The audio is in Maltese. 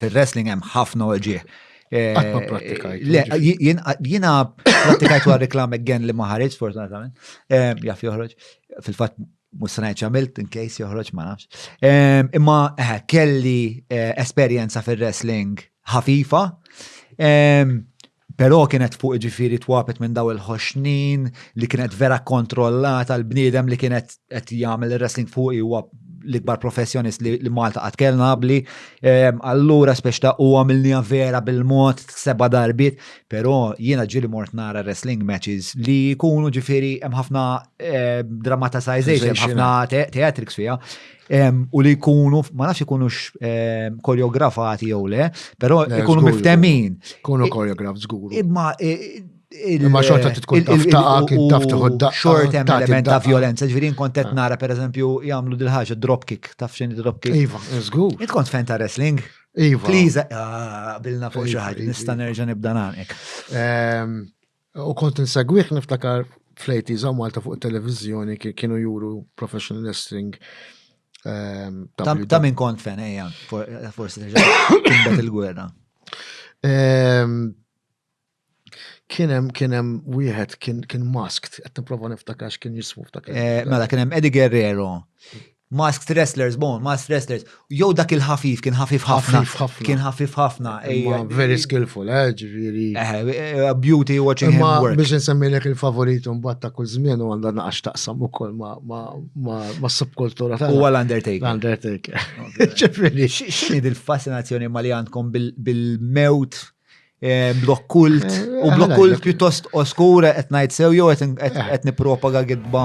Fil-wrestling hemm ħafna oġieħ. Għatma pratikajt. Le, jina pratikajt għal reklam again li maħarġ, fortunatament. Jaf joħroġ. Fil-fat, mussanajt ċamilt, in case joħroġ, ma nafx. Imma eh, kelli eh, esperienza fil-wrestling ħafifa. Però kienet fuq iġifiri twabet minn daw il-ħoxnin li kienet vera kontrollata l-bniedem li kienet qed jagħmel wrestling fuq huwa l-ikbar professjonist li, li Malta qatt kellna qabli. Ehm, allura spex ta' u għamilnija vera bil-mod seba darbit, però jiena ġili mort nara wrestling matches li jkunu ġifieri hemm ħafna eh, dramatization, hemm ħafna theatrics fiha. u li jkunu, ma nafx ikunux koreografati jew le, però jkunu miftemin. Kunu koreograf żgur. Imma Imma xorta tkun taf taqa' kien taf tieħod daqqa. Xort hemm element ta' violenza, ġifieri nkont qed nara pereżempju jagħmlu dil ħaġa drop kick, taf x'inhi drop kick. Iva, żgur. Int kont fan ta' wrestling? Iva. Please, bilna fuq xi ħaġa, nista' nerġa' nibda nagħmel. U kont insegwih niftakar fl-80s hawn Malta fuq it-televiżjoni kienu juru professional wrestling. Ehm, ta' min kont fen, ejja, forsi timbet il-gwerra. Ehm, kienem, kienem, wieħed kien masked, qed nipprova niftakar x'kien jismu ftakar. Eh, mela kienem Eddie Guerrero, Masked wrestlers, bon, masked wrestlers. Jew dak il-ħafif, kien ħafif ħafna. Ħafif ħafna. Kien ħafif ħafna. Imma ejja. very skillful, eh, ġifieri. Eh, eh, beauty watching him Imma work. biex insemmilek il-favorit mbagħad ta' kull żmien u għandha naqax taqsam ukoll ma' ma' ma' ma' subkultura tagħna. Huwa l-Undertaker. L-Undertaker. Ġifieri. X'inhi dil-fascinazzjoni ma li għandkom bil- bil-mewt Eh, blok kult, eh, u blok kult pjuttost oskura qed ngħid sew jew qed eh. nippropaga gidba.